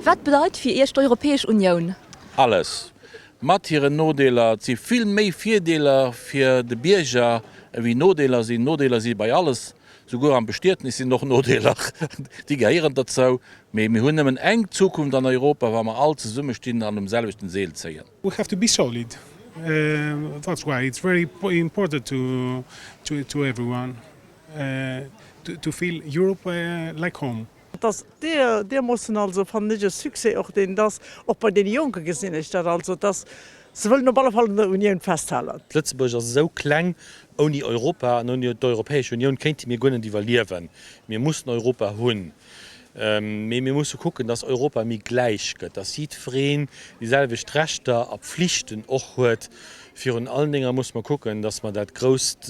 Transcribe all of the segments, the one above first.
Wat bedeit fir Iech d'Europäesch Unioun? Alles. Mat hiren Nodeeler. Et si vill méi Virdeeler fir de Bierger ewéi Nodeeler sinn. Nodeeler si bei alles. Souguer am Bestietnis sinn och Nodeeler. Déi gehéieren derzou. Mee mir hunn nëmmen eng Zukunft an Europa, wa mer all zesumme stinn an um selwechten Seel zéien. We have to be solid. That's why it's very important to everyone to feel Europe like home. Et ass deermoossen also, fannen ech, e Succès och, deen dass och bei deene Jonke gesinn ech dat also, dass se wëllen op alle Fall un der Unioun festhalen. Lëtzebuerg ass esou kleng, ouni Europa an ouni d'Europäesch Unioun kéinte mir guer net iwwerliewen. Mir mussen Europa hunn, mee mir musse kucken, dass Europa méi gläich gëtt, dass jiddwereen déi selwecht Rechter a Pflichten och huet. Virun allen Dénger musse mer kucken, dass mer dat grousst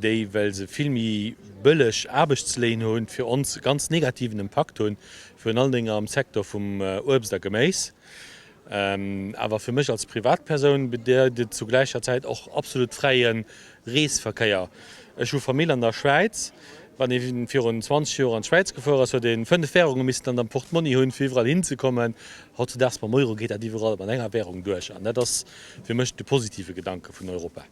déi, well se vill méi bëlleg Aarbechtsléin hunn, fir ons e ganz negativen Impakt hunn, virun allen Déngen am Secteur vum Uebst a Geméis. Awer fir mech als Privatpersoun bedeit et zu gläicher Zäit och absolut fräie Reesverkéier. Ech hu Famill an der Schwäiz. Wann ee virun 20 Joer an d'Schwäiz gefuer ass, huet ee fënnef Wärunge missten an der Portmonni hunn, fir iwwerall hinzekommen. Hautzedaags mam Euro geet dat iwwerall mat enger Wärung duerch. An dat ass fir mech de positive Gedanke vun Europa.